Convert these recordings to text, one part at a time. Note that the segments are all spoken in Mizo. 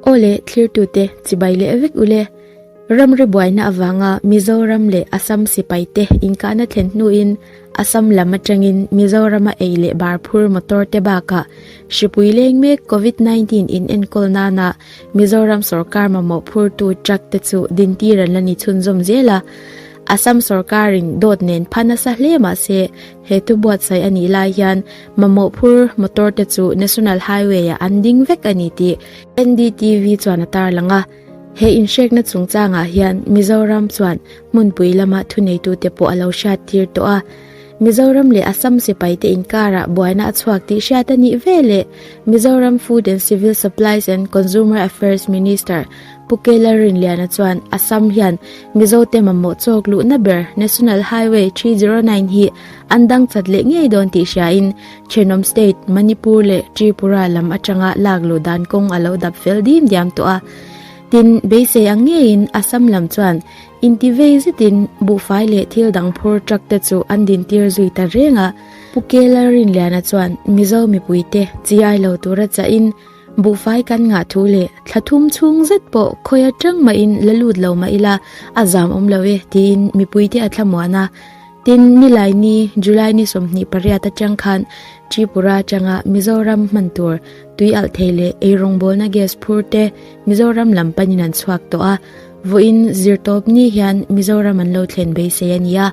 Aw le, Thirtute, chibai leh vek u le. Ram ribuaina avanga Mizoram leh Assam sipaite inkahna thlen hnuin Assam lam atangin Mizorama ei leh bar phur motor te bakah hripui leng mek Covid nineteen inenkawl nana Mizoram sorkar mamawh phurtu truck te chu dintir an la ni chhunzawm zel a. Assam sorkarin dawt nen pha nasa hle mahse He thu buatsaih a nih lai hian mamawh phur motor te chu National Highway ah an ding vek a ni tih NDTV chuan a tarlang a. He inhrekna chungchangah hian Mizoram chuan hmunpui lama thuneitute pawh a lo hriattir tawh a. Mizoram leh Assam sipaite inkarah buaina a chhuak tih hriat a nih ve leh Mizoram Food and Civil Supplies and Consumer Affairs Minister Pu Kela Rinliana chuan Assam hian Mizote mamawh chawk luhna ber National Highway three zero nine hi an dangchat leh ngei dawn tih hriain thenawm state Manipur leh Tripura lam atanga lak luh dan kawng a lo dap fel dim diam tawh a. Tin, beisei ang ngeiin Assam lam chuan inti vei zetin buhfai leh thil dang phur truck te chu an din tir zui ta reng a. Pu Kela Rinliana chuan Mizo mipuite chi ai lo tura chahin, Buhfai kan ngah thu leh thla thum chhung zet pawh khawi atang mahin la lut lo mah ila a zam awm lo e tiin mipuite a thla muan a. Tin, Nilai ni, July ni sawmhnih pariat atang khan Tripura atanga Mizoram hman tur tui alh thei leh ei rawngbawlna gas phur te Mizoram lam panin an chhuak tawh a, vawiin zir tawp ni hian Mizoram an lo thlen beisei a ni a.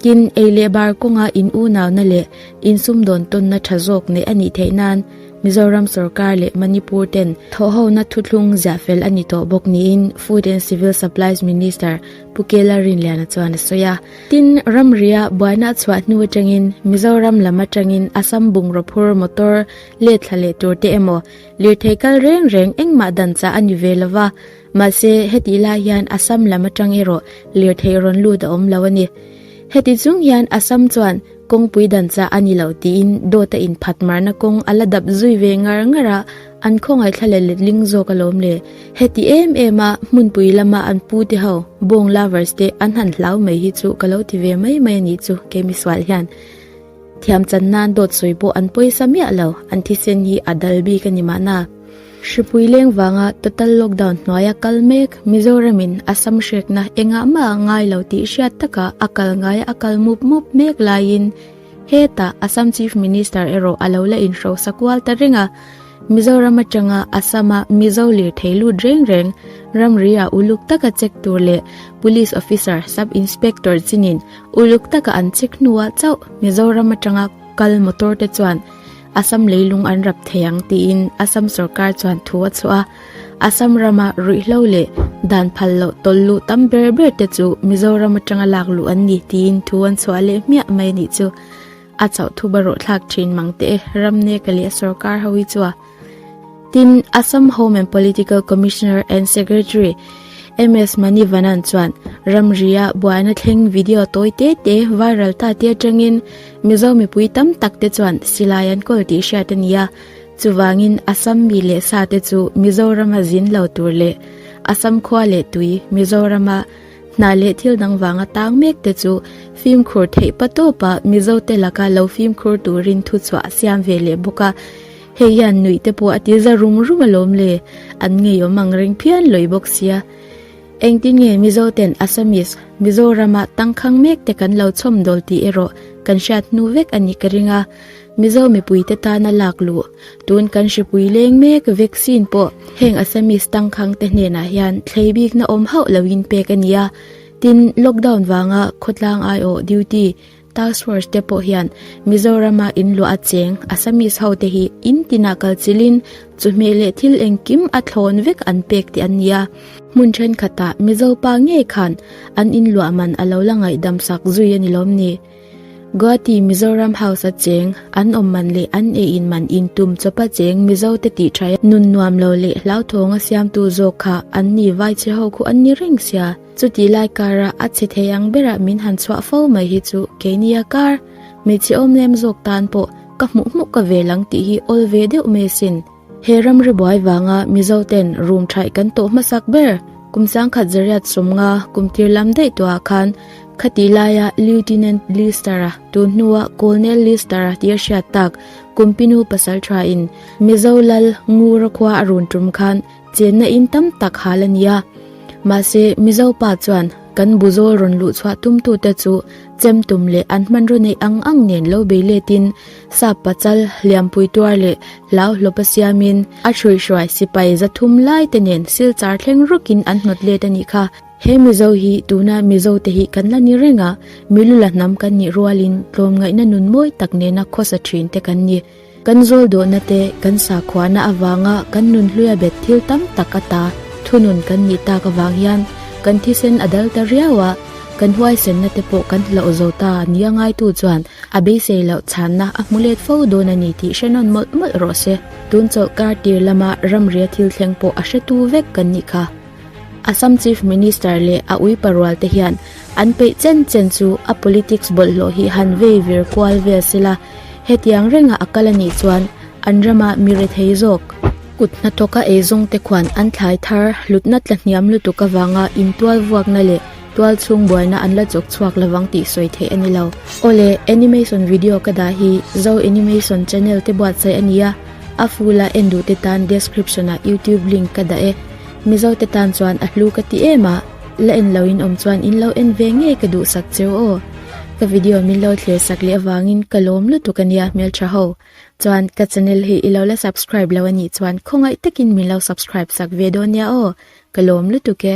Tin, ei leh bar kawnga in unauna leh in sumdawn tawnna tha zawk neih a nih theih nan Mizoram sorkar leh Manipur ten thawhhona thuthlung ziah fel a ni tawh bawk niin Food and Civil Supplies Minister Pu Kela Rinliana chuan a sawi a. Tin, ramria buaina chhuah hnu atangin Mizoram lam atangin Assam bungraw phur motor let thla leh tur te emaw lirthei kal reng reng engmah dan chah a ni ve lo va, Mahse, heti lai hian Assam lam atang erawh lirthei rawn lut a awm lo a ni. Heti chung hian Assam chuan kawngpui dan chah a ni lo tiin dawta inphatmarna kawng a la dap zui ve ngar ngar a, an khawngaih thla leh letling zawk a lawm le. Heti em em a hmunpui lama an pu te ho, bawng lovers te an han hlau mai hi chu ka lo ti ve mai mai a nih chu kei misual hian thiam chan nan dawt sawi pawh an pawisa miah lo, an thisen hi a dal bik a ni mahna. Hripuileng vanga total lockdown hnuaia kal mek Mizoramin Assam hriatna engah maha ngai lo tih hriat taka a kal ngaia a kal mup mup mek laiin heta Assam Chief Minister erawh a lo la inhrosa kual ta reng a. Mizoram atanga Assama Mizo lirthei lut reng reng ramria uluk taka check tur leh Police Officer, Sub Inspector chinin uluk taka an check hnua chauh Mizoram atanga kal motor te chuan Assam leilung an rap thei ang tiin Assam sorkar chuan thu a chhuah a. Assam rama ruihhlo leh dan phal loh tawl luh tam ber ber te chu Mizoram atanga lak luh an ni tiin thu an chhuah leh hmiah mai a nih chu. A chauhthuba rawhthlak thin mangte e, ramneka leh sorkar ho hi chuah. Tin, Assam Home and Political Commissioner and Secretary MS Manivanan chuan ramria buaina thleng video tawi te te viral ta te atangin Mizo mipui tam tak te chuan silai an kawl tih hriat a ni a. Chuvangin Assam mi leh sa te chu Mizorama zin lo tur leh Assam khua leh tui, Mizorama hna leh thil dang vanga tang mek te chu fimkhur theih pa tawpa Mizote laka lo fimkhur turin thuchhuah a siam ve leh bawk a. Hei hian nuih te pawh a ti za rum rum alawm le, an ngeiawm ang reng phian lawi bawk sia. Engtin nge Mizo ten Assamese, Mizoram a tangkhang mek te kan lo chhawm dawl tih erawh kan hriat hnu vek a nih ka ring a, Mizo mipui te tan a lak luh. Tun kan hripui leng mek vaccine pawh heng Assamese tangkhang te hnenah hian thlei bikna awm hauh loin pek a nia, tin lockdown vanga khawtlang aiawh duty Task Force te pawh hian Mizorama in luah a cheng Assamese ho te hi in tinah kal chil in chu hmeh leh thil engkim a thlawn vek an pek tih an ni a. Hmun thenkhat ah Mizo pa ngei khan an in luah man a lo la ngaihdam sak zui a ni lawm ni? Guwahati Mizoram House a cheng an awm man leh an ei in man in tum chawp a cheng Mizo te tih thaia nun nuam lo leh hlauthawng a siam tu zawk kha an ni vai che ho khu an ni reng sia. Chutih lai karah a chhe thei ang berah min han chhuah fo mai hi chu keinia kar hmeichhe awm lem zawk tan pawh ka hmuh hmuh ka vel ang tih hi awl ve deuh mai sin. He ram ribuai vanga Mizo ten rum thaih kan tawh hmasak ber, kum sang khat Zariat sumnga kum tir lam daihtuah ah khan khatih laia Lieutenant Lister a, tun hnua Colonel Lister a tih a hriat tak kum pinu pasal tha in Mizo lal Ngura khua a run tum khan chenna in tam tak hal a nia. Mahse, Mizo pa chuan kan bu zawl rawn luh chhuah tumtu te chu chem tum leh an hmanraw neih ang ang nen lo bei letin sap pachal, hliampui tuar leh hlau hlawpa siamin a hruihruai sipai zathum lai te nen silchar thleng rukin an hnawt let a nih kha. He Mizo hi tuna Mizo te hi kan la ni reng a, milu la hnam kan nih rualin tlawmngaihna nun mawi tak nena khawsa thin te kan ni. Kan zawl duhna te, kan sakhuana avanga kan nun hluia bet thil tam tak a ta, thunun kan nih tak avang hian kan thisen a dal ta riau a, kan huaisenna te pawh kan hlauh zo ta a nia ngaitu chuan a beisei loh chhanna a hmu let fo dawn a ni tih hre nawn mawlh mawlh rawh se. Tun chawlhkar tir lama ramria thil thleng pawh a hretu vek kan nih kha. Assam Chief Minister leh a uipa rualte hian an peih chen chen chu a politics bawlhhlawh hi han vei vir kual vel se la, hetiang renga a kal a nih chuan an rama mi re thei zawk, kut hnathawka ei zawngte khuan an thlai thar, hlutna tla hniam lutuk avanga intual vuakna leh tual chhung buaina an la chawk chhuak lovang tih sawi theih a ni lo. Aw le, animation video ka dah hi Zo Animation channel te buatsaih a ni a, a fula en duhte tan description-ah youtube link ka dah e. Mizo te tan chuan a hlu ka ti em a, la en lo in awm chuan in lo en ve ngei ka duh sak cheu aw. Ka video min lo thlir sak leh avang in ka lawm lutuk a nia hmeltha ho. Chuan ka channel hi i lo la subscribe lo a nih chuan khawngaih tak in min lo subscribe sak ve dawn nia aw, ka lawm lutuk e.